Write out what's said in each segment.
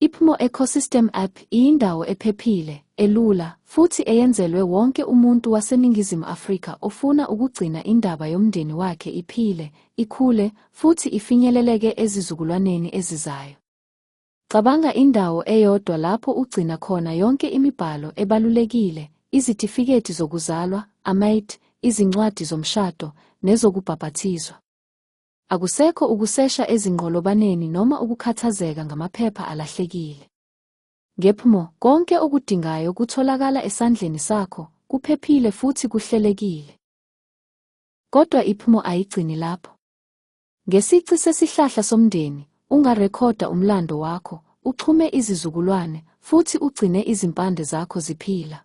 IPhumo Ecosystem App iyindawo ephephile, elula, futhi eyenzelwe wonke umuntu waseNingizimu Afrika ofuna ukugcina indaba yomndeni wakhe iphile, ikhule, futhi ifinyeleleke ezizukulwaneni ezizayo. Cabanga indawo eyodwa lapho ugcina khona yonke imibhalo ebalulekile, izitifiketi zokuzalwa, amait, izincwadi zomshado, nezokubhapathizwa. Akusekho ukusesha ezinqolobaneni noma ukukhathazeka ngamaphepha alahlekile. Ngephumo, konke okudingayo kutholakala esandleni sakho, kuphephile futhi kuhlelekile. Kodwa iphumo ayigcini lapho. Ngesici sesihlahla somndeni, ungarekhoda umlando wakho, uxhume izizukulwane, futhi ugcine izimpande zakho ziphila.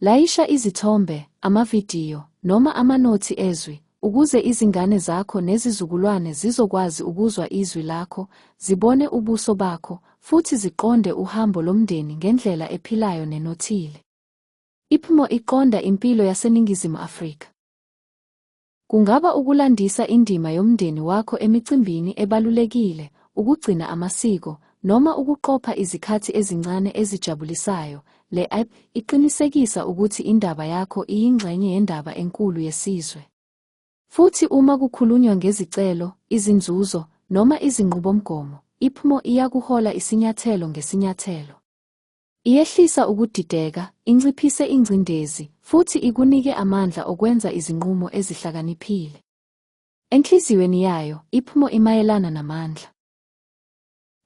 Layisha izithombe, amavidiyo, noma amanothi ezwi ukuze izingane zakho nezizukulwane zizokwazi ukuzwa izwi lakho, zibone ubuso bakho, futhi ziqonde uhambo lomndeni ngendlela ephilayo nenothile. IPMO iqonda impilo yaseNingizimu Afrika. Kungaba ukulandisa indima yomndeni wakho emicimbini ebalulekile, ukugcina amasiko, noma ukuqopha izikhathi ezincane ezijabulisayo. Le app iqinisekisa ukuthi indaba yakho iyingxenye yendaba enkulu yesizwe. Futhi uma kukhulunywa ngezicelo, izinzuzo, noma izinqubomgomo, IPMO iyakuhola isinyathelo ngesinyathelo. Iyehlisa ukudideka, inciphise ingcindezi, futhi ikunike amandla okwenza izinqumo ezihlakaniphile. Enhliziyweni yayo, iphmo imayelana namandla.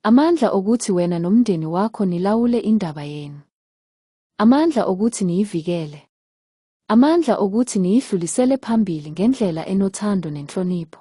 Amandla okuthi wena nomndeni wakho nilawule indaba yenu. Amandla okuthi niyivikele. Amandla okuthi niyidlulisele phambili ngendlela enothando nenhlonipho.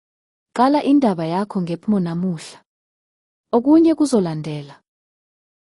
Qala indaba yakho ngepmo namuhla. Okunye kuzolandela.